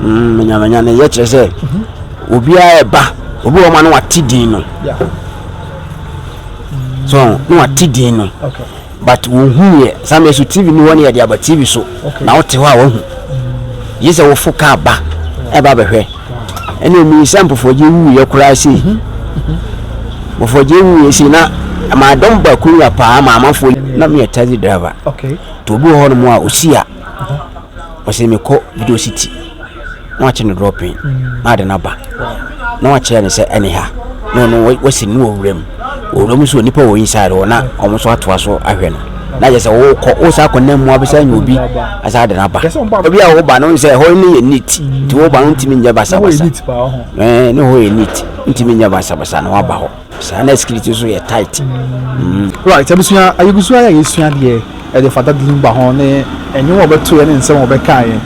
manyamanyane yɛ kyerɛ sɛ obiara ɛba obi wɔ ma no wate din no so na wate din no but wohu yɛ saa mɛ so tv ni hɔ ne yɛde aba tv so na wote hɔ a wahu gye sɛ wofo kaa ba ɛba bɛhwɛ ɛne ɛmi sɛ mpɔfɔgye wu yɛ koraa sei mhm. mhm. mpɔfɔgye wu yɛ sei na maadɔm ba kuruwa paa maamafoɔ na meyɛ taxi driver nti obi wɔ hɔ nom a ɔsi a ɔse mekɔ video city na wakyɛ no drɔpin na ade no aba na wakyerɛ no sɛ ɛne ha na ɔno wasi no wɔ wuram wuram nso nipa wɔ inside hɔ na wɔn nso atoa so ahwɛ no na yɛ sɛ wokɔ wosa akɔ nam mu abɛsa nyɛ obi asa ade no aba obi a woba no sɛ ɛhɔ no yɛ neat nti woba no ntumi nyɛ basabasa ne hɔ yɛ neat ntumi nyɛ basabasa na waba hɔ Saa na skirt nso yɛ tight. Mm. Right, abusua, ayɛgusua yɛ yɛsua deɛ ɛde fata din ba ho ne nnwom a wɔbɛtoeɛ ne nsɛm a wɔbɛkaeɛ.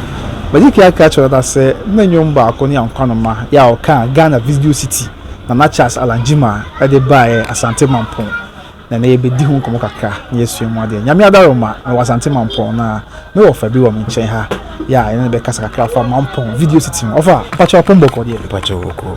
Magye Kiaka kyerɛ dada sɛ ne nnwom baako ne Ankwanoma yɛ a ɔkaa Ghana Visdio City Nana Charles Alangyima de baeɛ Asante Mampɔn. Na ɛnɛ yɛbɛdi ho nkɔmmɔ kakra na yɛasua mu adeɛ. Nyame adaroma, mewɔ Asante Mampɔn na me wɔfa bi wɔ me nkyɛn ha yɛ a yɛne no bɛkasa kakra afa Mampɔn Video City ho. Ɔfa, mpakyɛ ɔpon bɔkɔ deɛ? Mpakyɛ ɔkɔ.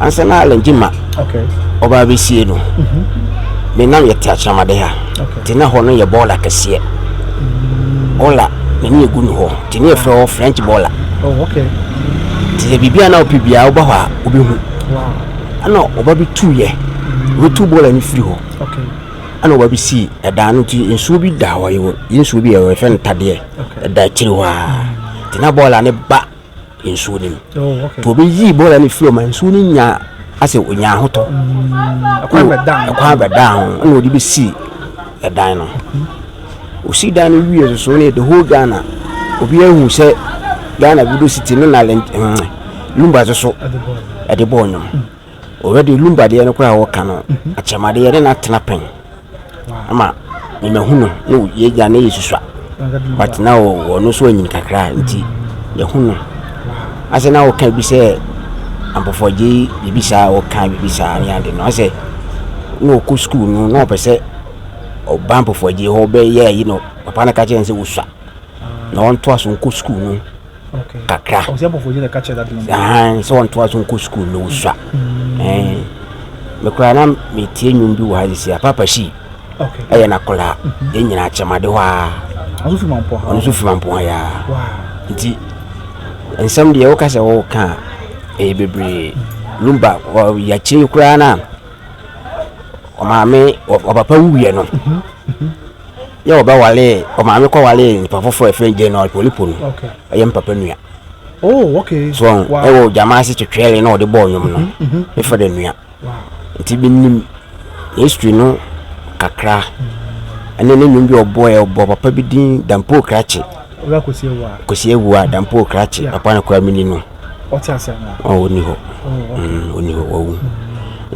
ansa na alɛngye ma ɔbaa bɛsie no me nam yɛte akyerɛmade ha nti na hɔ no yɛ bɔɔla kɛseɛ bɔɔla na ne yɛgu no hɔ nti ne yɛfrɛ hɔ french bɔɔla nti sɛ biribia na wopɛ biaa woba hɔ a wobɛhu ɛna ɔba bi tuiɛ wobɛtu bɔɔla no firi hɔ ɛna ɔba bi sii ɛdaa no nti nsuo bi da hɔ yɛ nsuo bi yɛfrɛ no tadeɛ ɛda akyiri hɔ a nti na bɔɔla ne ba nsuo no mu obi yii bɔɔl no firi ɔma nsuo no nya asɛ ɔnya ahotɔ ɛkwan bɛdaa ho ɛna ɔde bɛsii ɛdan no ɔsii dan no wie soso ne the whole ghana obi ahu sɛ ghana video city ne na lumba soso ɛde bɔɔl no Already lumba deɛ no koraa wɔka no akyɛm adeɛ ne na tena pɛn ama me mahu no ne yɛgya ne yɛsusua but na ɔno nso anyini kakra nti yɛhu no asɛ na wɔka bi sɛ ampɔfɔgye biribi saa wɔka biribi saa ne ade no asɛ na ɔkɔ sukuu no na ɔpɛ sɛ ɔba ampɔfɔgye hɔ bɛyɛ ayi no papa no ka kyerɛ no sɛ wosua na ɔntoa so nkɔ sukuu no kakra ahan sɛ ɔntoa so nkɔ sukuu na ɔsua ɛn mekora na metie nnwom bi wɔ ha sisi a papa si ɛyɛ nakɔla yɛ nyina akyɛmade hɔ a ɔno so firi mampoa yɛ a nti nsɛm deɛ woka sɛ woka a ɛyɛ bebree lumba yɛakyerɛ yi koraa no a ɔmaame ɔpapa wuiɛ no yɛ wɔbɛwaree ɔmaame kɔwaree nipa foforɔ a ɛfrɛ Jane Olpolipo no ɛyɛ me papa nua oh, okay. so wow. ɛwɔ gyama ase twetwɛre na ɔde bɔɔ nnwom no mm-hmm, mm-hmm. mefa dɛ nua nti menim history no kakra ɛne ne nnwom bi ɔbɔɛ ɔbɔ papa bi din dampoo krakye kɔsi awua dampoo krakye papa no koraa meni no ɔte ase anaa ɔ ɔni hɔ ɔni hɔ wawu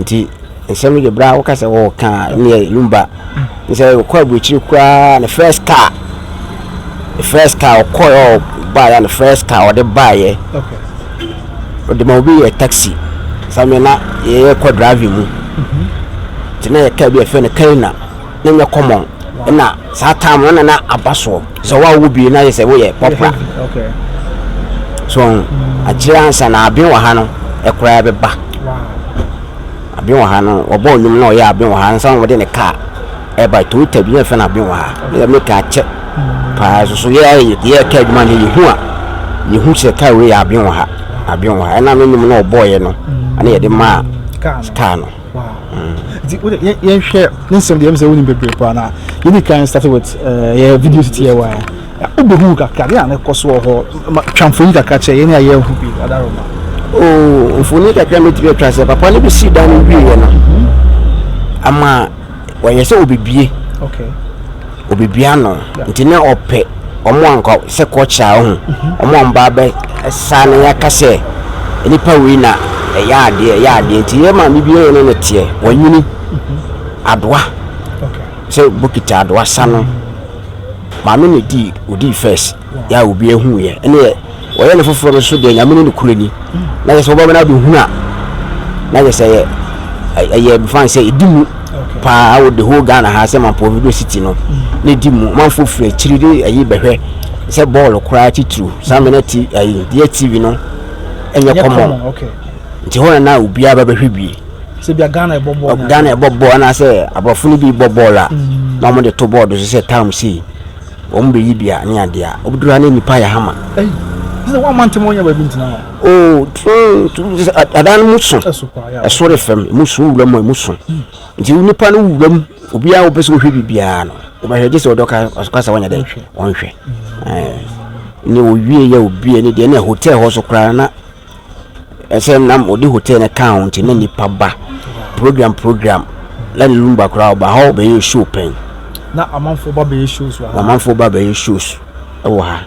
nti nsɛm no deɛ berɛ a woka sɛ wɔɔka a ne yɛ lumba ne sɛ ɔkɔ aburokyiri koraa ne first car ne first car ɔkɔɛ ɔbaeɛ ne first car ɔde baeɛ ɔde ma obi yɛ taxi sɛ me na yɛyɛ kɔ driving mu nti na yɛ car bi a ɛfɛ no kaina na nyɛ common na saa time no na na aba soɔ sɛ wo a wowɔ bie na yɛ sɛ woyɛ pɔpra so ɔho mm. akyerɛ ansa na aben wɔ ha no ɛkoraa bɛba aben wɔ ha no ɔbɔ ɔnwom na ɔyɛ aben wɔ ha ansa na wɔde ne kaa ɛba toyota bi na ɛfɛ no aben wɔ ha na yɛ meka akyɛ mm. paa soso yɛ yɛ ɛka adwuma no yɛhu a yɛhu sɛ kaa wei yɛ aben wɔ ha aben wɔ ha ɛna no nnwom na ɔbɔɔyɛ no mm. ɛna yɛde maa kaa no nti wode yɛnhwɛ ne nsɛm deɛ sɛ wonim bebree paa na yɛdi kan start with eh, yɛ video titiɛ wa wobɛhu kakra deɛ a ne kɔ so wɔ hɔ twa mfoni kakra kyerɛ yɛne a yɛahu bi adaroma oh, mfoni kakra mɛtumi atwa sɛ papa no bɛsii da no wieɛ no ama wɔyɛ sɛ obebie obebie ano nti na ɔpɛ wɔn a nka sɛ kɔkyea ho wɔn a wɔba abɛ saa na yɛaka sɛ nipa wei na ɛyɛ adeɛ ɛyɛ adeɛ nti yɛ maame bi yɛ ne ne teɛ wɔnyini adoa sɛ bokiti adoa sa no maame na di odi first. yɛ a obi ehu yɛ ɛne yɛ wɔyɛ no foforɔ no so deɛ nyame ne nokorɛ ni na yɛ sɛ wɔbɛma no abɛhunu a na yɛ sɛ yɛ ɛyɛ befan sɛ ɛdi mu paa wɔ the whole ghana ha sɛ mampɔ video city no ne di mu manfo firi akyiri de ɛyi bɛhwɛ sɛ bɔɔl koraa titiriw saa mena ti ɛyi deɛ tv no ɛnyɛ kɔmɔ nti hɔ na na obiara bɛbɛhwɛ bi sɛ bia ghana ɛbɔ bɔɔl ghana ɛbɔ bɔɔl anaasɛ aborɔfo no bi bɔ bɔɔl a mm. na wɔde to bɔɔl do so sɛ tam sei Wɔn bɛ yi dua ne adeɛ a. Obi dura ne nipa yɛ hama. Ɛyi. Ɛsɛ wɔn amante mo nyɛ baabi ntina hɔ. Oo tun adan mu so. Ɛso de fam mu so wura mu mu so. Hmm. Nti nipa no wura mu obiara wɔpɛ sɛ wɔhwɛ biribiara no wɔbɛhwɛ gye sɛ ɔdɔ ka ɔka sɛ wɔnyɛ dɛ wɔnhwɛ. Hmm. Ne owie yɛ obi ne deɛ na hotel hɔ so koraa na Ɛsɛm na wɔde hotel no kaa ho nti na nipa ba program program na ne lumba koraa ɔba ha ɔbɛyɛ show pɛn. Na amanfoɔ ba bɛyɛ shows wɔ ha. Amanfoɔ ba bɛyɛ shows wɔ ha.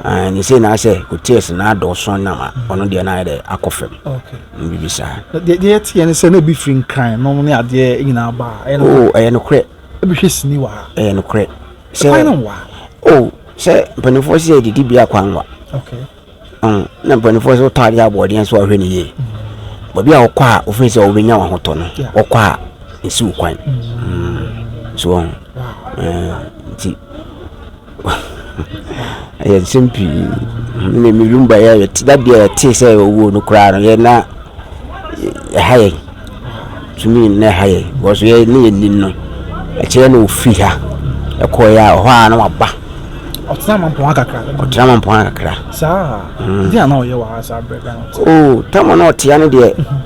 Ah, ne sɛ na sɛ hotels na adɔɔso na ma mm. ɔno deɛ na ayɛ dɛ akɔ fam. Bibi saa. Deɛ deɛ teɛ ne sɛ na ebi firi nkran nom ne adeɛ nyinaa ba. Oh, ɛyɛ nokorɛ. Ebi hwɛ sini wɔ ha. Ɛyɛ nokorɛ. Sɛ kwan no wɔ ha. Oh, sɛ mpanimfoɔ sɛ didi bi akwan wa. Okay. Ɔn, na mpanimfoɔ nso taa de aboɔden nso ahwɛ no yie. Baabi a ɔkɔ a ofin sɛ ɔbɛnya wɔn ahotɔ no, ɔkɔ a nsiw kwan. Mm. So ɔn, eh, nti ɛyɛ nsɛm pii. Mm, Na me room ba yɛ yɛte da bi a yɛtee sɛ owuo no koraa no yɛ na ɛha yɛn. tumi na ɛha yɛ because yɛ ne yɛ nim no ɛkyerɛ na ofiri ha ɛkɔɛ a ɔhɔ a na waba ɔtena mampɔn akakra ɔtena mampɔn akakra saa mm. ɛdi ana ɔyɛ wɔ ha saa brɛ ghana ɔte o tama na ɔtea no deɛ mhm.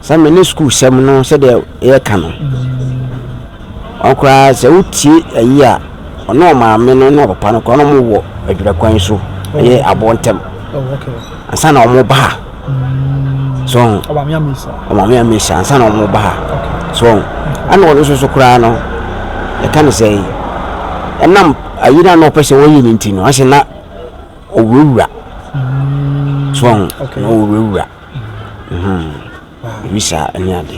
sɛ me ne sukuu sɛm no sɛdeɛ yɛka no mhm. ɔkoraa sɛ wotie ayi a ɔne ɔmaame no ne ɔpapa no koraa na ɔmo wɔ adwurakwan so ɛyɛ aboɔ ntɛm oh, ansa na ɔmo ba ha so ɔn ɔmaame amesa ɔmaame amesa ansa na wɔn ba ha so ɔn ɛna ɔno nso so koraa no ɛka no sɛ ɛnam ayi na na ɔpɛ sɛ ɔyɛ ne nti no ɔsɛ na ɔwurawura so ɔn na ɔwurawura ebi saa ɛne ade.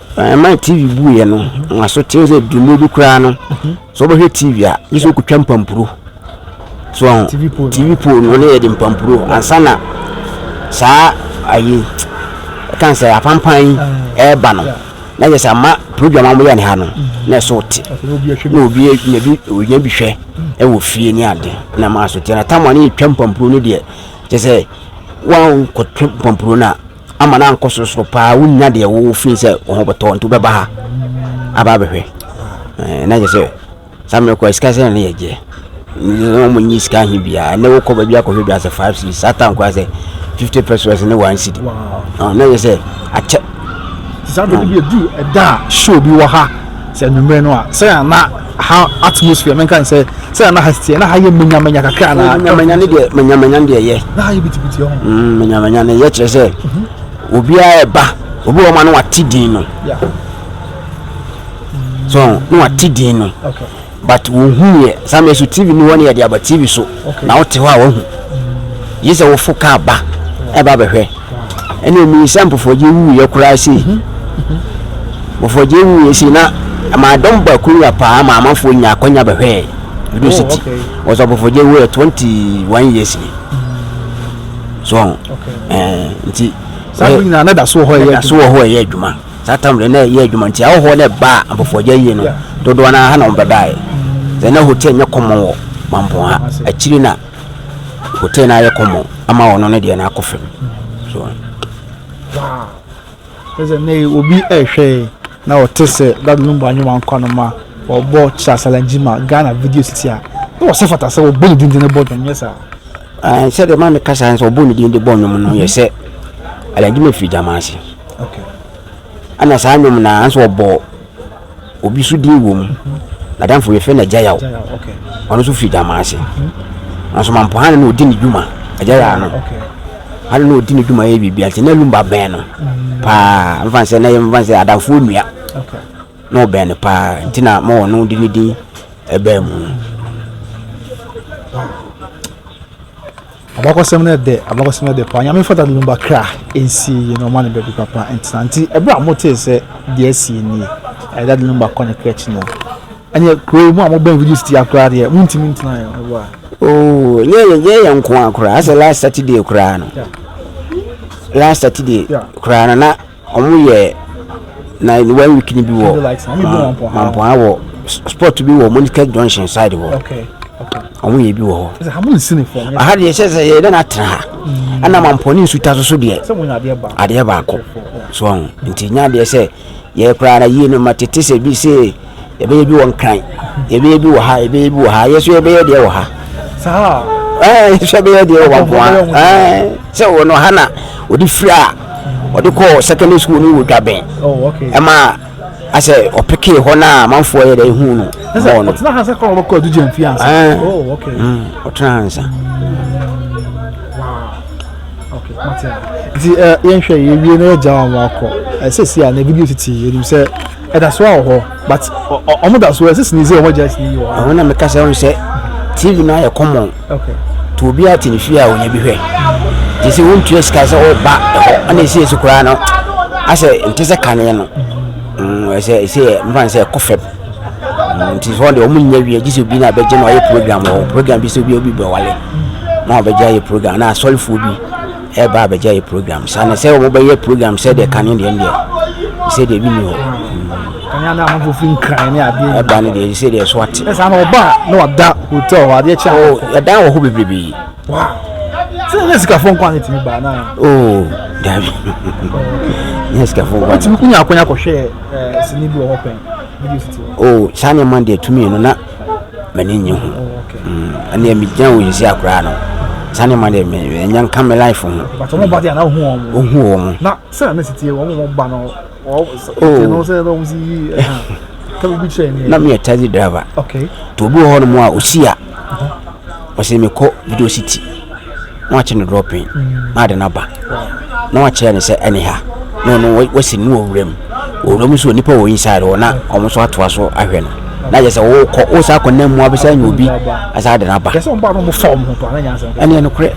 Ɛma TV bu yɛ no nwaso te sɛ dwuma bi koraa no sɛ wobɛhwɛ TV a gye sɛ wokɔtwa mpampuro so TV pole no ne yɛde mpampuro ansa na saa ayi ɛkan sɛ apampan yi ɛreba no na yɛ sɛ ama program a wɔyɛ ne ha no na ɛsɛ wote na obi nya bi ɔnya bi hwɛ ɛwɔ fie ne ade na ma so te na tam a ne yɛtwa mpampuro no deɛ kyɛ sɛ woankɔtwa mpampuro no a Ama no ankɔ sorosoro paa wonnya deɛ wo feel sɛ wo ho bɛtɔ nti wobɛba ha aba abɛhwɛ eh, na kyɛ sɛ saa mmerɛ kɔ sika sɛ ne yɛgyeɛ wɔn nyi sika he biara ne wokɔ baabi akɔhwɛ bi asɛ five cedis saa tan koraa sɛ fifty pesos ne one cedi ah, na yɛ sɛ akyɛ saa bɛde bi ɛdu ɛda a show bi wɔ ha sɛ anwummerɛ no a sɛ ana ha atmosphere no nka sɛ sɛ na ha teɛ na ha yɛ manyamanya kakra anaa manyamanya ne deɛ manyamanya ne deɛ yɛ na ha yɛ bitibiti ɔho mm, manyamanya ne yɛ kyerɛ sɛ mhm. obiara ɛba obi wɔ ma no wate din no so no wate din no but wɔhu yɛ saa mɛ so tv no hɔ ne yɛde aba tv so na wote hɔ a woahu, gye sɛ wofo kaa ba ɛba bɛhwɛ. Ɛne ɛmii sɛ mpofɔgye wuiɛ koraa sei. Mpofɔgye wuiɛ sei na ɛmaa dɔm ba kuruwa paa ma amanfoɔ nya akwanya bɛhwɛɛ Edo City. Wɔsɛ mpofɔgye wuiɛ 21 years ni. So, nti, saa bere nyinaa na da so wɔ hɔ ɛyɛ adwuma. Saa tam no na ɛyɛɛ adwuma nti ahɔhoɔ no baa Ampɔfoagya yie no dodoɔ no ara ha na wɔbɛbaeɛ. Sɛ na hotel nyɛ kɔmmɔn wɔ Mampong ha, akyiri na hotel no ayɛ kɔmmɔn ama wɔn no deɛ no akɔ fam. So. Ɛsɛ na obi ɛhwɛ na ɔte sɛ dadu no mu anyoma nkwa no ma ɔbɔ kyasalanji ma Ghana video sisi a na ɔsɛ fata sɛ ɔbɔ ne dindin bɔ dwom nyɛ saa. Sɛ deɛ maa mi kasa sɛ ɔbɔ ne dindin bɔ dwom no yɛ sɛ alanji ma firi gyaman ase. Ɛna saa nwom na nso ɔbɔ obi so din wɔ mu nadamfo yɛfrɛ no agyayaw ɔno nso firi dama ase nanso mampo hane na ɔdi ne dwuma agyayaw no hane na ɔdi ne dwuma yɛ biribia nti na lumba bɛn no paa mfa sɛ na yɛmfa sɛ adamfoɔ nnua na ɔbɛn no paa nti na ma ɔno de ne din ɛbɛn mu no Abakɔsɛm no dɛ, abakɔsɛm no dɛ paa, Nyame mfata no ba kra nsie yie na ɔma no baabi papa ntena. Nti berɛ a motee sɛ deɛ asie nie, ɛyɛ dade no ba kɔ ne kra akyi no, ɛneɛ kuro yi, mo a mobɛn Video City ha koraa deɛ, montumi ntena yɛ meboa. Oh, nyɛ yɛ, nyɛ yɛ nkoa koraa, asɛ last Saturday koraa no, last Saturday koraa no na. Ɔmo yɛ na one week ni bi wɔ Mampoa wɔ sport bi wɔ Monikers Junction side hɔ. Ɔmo yɛ bi wɔ hɔ. Aha deɛ sɛ sɛ yɛ dɛ na atena ha. Mm. Ɛna Mampoa ne nsuta so so deɛ. Adeɛ baako. So ɔho. Nti nya deɛ sɛ yɛ koraa na yie no ma tete sɛ bi sɛ. yɛbɛyɛ bi wɔ nkran yɛbɛyɛ bi wɔ ha yɛbɛyɛ bi wɔ ha yɛso yɛbɛyɛ deɛ wɔ ha saa ɛɛ yɛso yɛbɛyɛ deɛ wɔ baboa ɛɛ sɛ wɔ no ha na wɔde firi a wɔde kɔɔ secondary school no wɔ dwabɛn oh, ɛma asɛ ɔpeke hɔ no a amanfoɔ yɛ dɛ ɛhu no bɔɔ no ɔtena hansa kɔrɔ bɛkɔ adigya mfie ansa ɛɛ oh, mm, ɔtena hansa nti eh, yɛnhwɛ yɛwie na yɛgya wɔn akɔ ɛsɛ eh, si a na ebi bi tete yɛnim sɛ Ɛda so wɔ hɔ but ɔmo da so ɛsɛ sini sɛ ɔmo gya sini wɔ hɔ. Ɔno na meka sɛ ɔno sɛ TV no ayɛ common. Okay. To obi ate ne fie a ɔnya bi hwɛ. Te sɛ wontua sika sɛ ɔba ɛhɔ ɛna ɛsɛ ɛsi koraa no asɛ nte sɛ kaneɛ no. Mm, ɛsɛ ɛsɛ mfa sɛ ɛkɔ fam. Mm, nti sɛ ɔde ɔmo nya wie gye sɛ obi na abɛgye na ɔyɛ program wɔ program bi sɛ obi obi bɛwale na ɔbɛgye ayɛ program na asɔrefoɔ bi ɛba abɛgya yɛ program saa na sɛ wɔbɛyɛ program sɛ deɛ kane deɛ deɛ sɛ deɛ bi ni hɔ kanya na ahofo fi nkran ne adeɛ ɛba ne deɛ sɛ deɛ so ate ɛsɛ ama ɔba na wada hotel hɔ adeɛ kyɛ o ɛdan wɔ hɔ bebrebe sɛ nyɛ sikafo nkwa ne tumi baa na o dabi nyɛ sikafo nkwa ne tumi kunya akonya kɔhwɛ sini bi wɔ hɔ pɛn o saa nneɛma deɛ tumi no na m'ani nnye ho ɛnna mi gyina wɔ yisi akora no saa nneɛma deɛ mɛ ɛnyɛ nka mi life ho. bàtà wọn ba de àná ohun wọn. ohun wọn. na sẹ àná sì tiẹ wọn wọn ba náà wọn tiẹ náà sẹ ẹ bá wọn sì yí ẹ hàn kẹbi bi kyerẹ ni. na mi yẹ taxi driver. ok tó o bí wọ hɔ nom a o si a ɔsè mi kɔ video city. na wakye no dɔɔpen na ade no aba na wakyerɛ no sɛ ɛne ha na ɔno wasi no wɔ wuram wɔ wuram nso nipa wɔ inside hɔ na wɔn nso atoa so ahwɛ no na yɛ sɛ wokɔ wo saa kɔnam mu abɛsɛ anya obi asa ade no aba ɛneɛ nokorɛ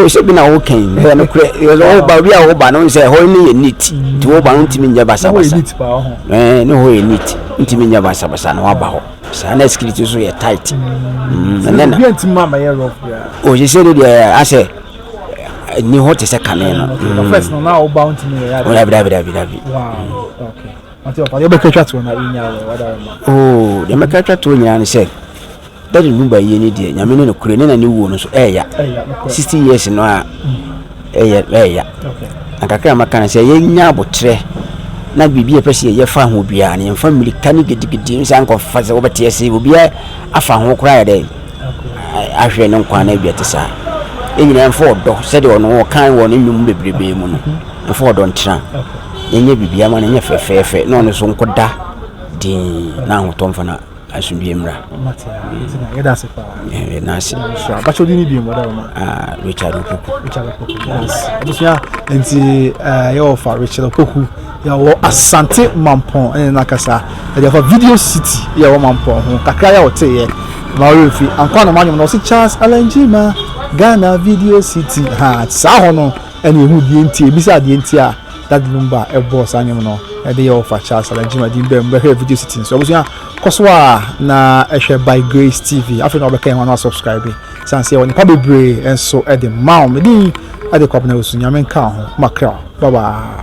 sɛ bi na woka yi ɛyɛ nokorɛ woba obi a woba no sɛ hɔ ne yɛ neat nti woba no ntumi nyɛ basabasa ne hɔ yɛ neat ntumi nyɛ basabasa na woaba hɔ saa na sikiriti nso yɛ tight ɔhyehyɛ no deɛ asɛ ni hɔ te sɛ kane no dabidabidabidabi yɛbɛka twa toɔ nyinaa ne sɛ dade nu bayie ne deɛ nyame ne no kure ne na ne wuo no so ɛya 60 years no a Ɛyɛ ɛya. Na kakra a maka no sɛ yɛnya aboterɛ na biribi a ɛpɛ sɛ yɛyɛ fa ho biara no yɛmfa mmirika ne gidigidi nsa nkɔfa sɛ wobɛte ase obiara afa ho koraa yɛ dɛ ahwɛ ne nkwa no awie te saa yɛn nyinaa mfa ɔdɔ sɛdeɛ ɔno ɔkan wɔ ne nnwom bebrebe mu no mfa ɔdɔ ntena yɛnyɛ biribiara ma no nyɛ fɛfɛɛfɛ na ɔno so nkɔda din na ahotɔ mfa no Asomdwie mmra. Mate a, nti na yɛda ase paa. Yɛda ase. So abakyɛ odi ni bi mu da ma. Ah, Richard Opoku. Richard Opoku. Yes. Abusua, nti eh yɛ ofa Richard Opoku. Yɛ wɔ Asante Mampɔn ɛne na kasa. Yɛ ofa Video City yɛ wɔ Mampɔn ho. Kakra yɛ ɔte yɛ. Ma ɔyɛ fi. Ankwa na manyom na ɔsi Charles Alanjima Ghana Video City. Ha, saa hɔ no ɛne ehu die nti ebisa die nti a. Dade no ba a ɛbɔɔ saa nnwom no de yɛɛ ɔfakyɛ a Salah Jim Adin baa mu bɛhwɛɛ video siti no so. Abusua, kɔ so ara na hwɛ By Grace TV. Afei na wɔbɛka yɛn ho ano asubscribe sane sɛ yɛwɔ nnepa bebree nso de ma wo. Me din de Kwabena Osu. Nyame nka wo ho. Makra wo. Bye bye.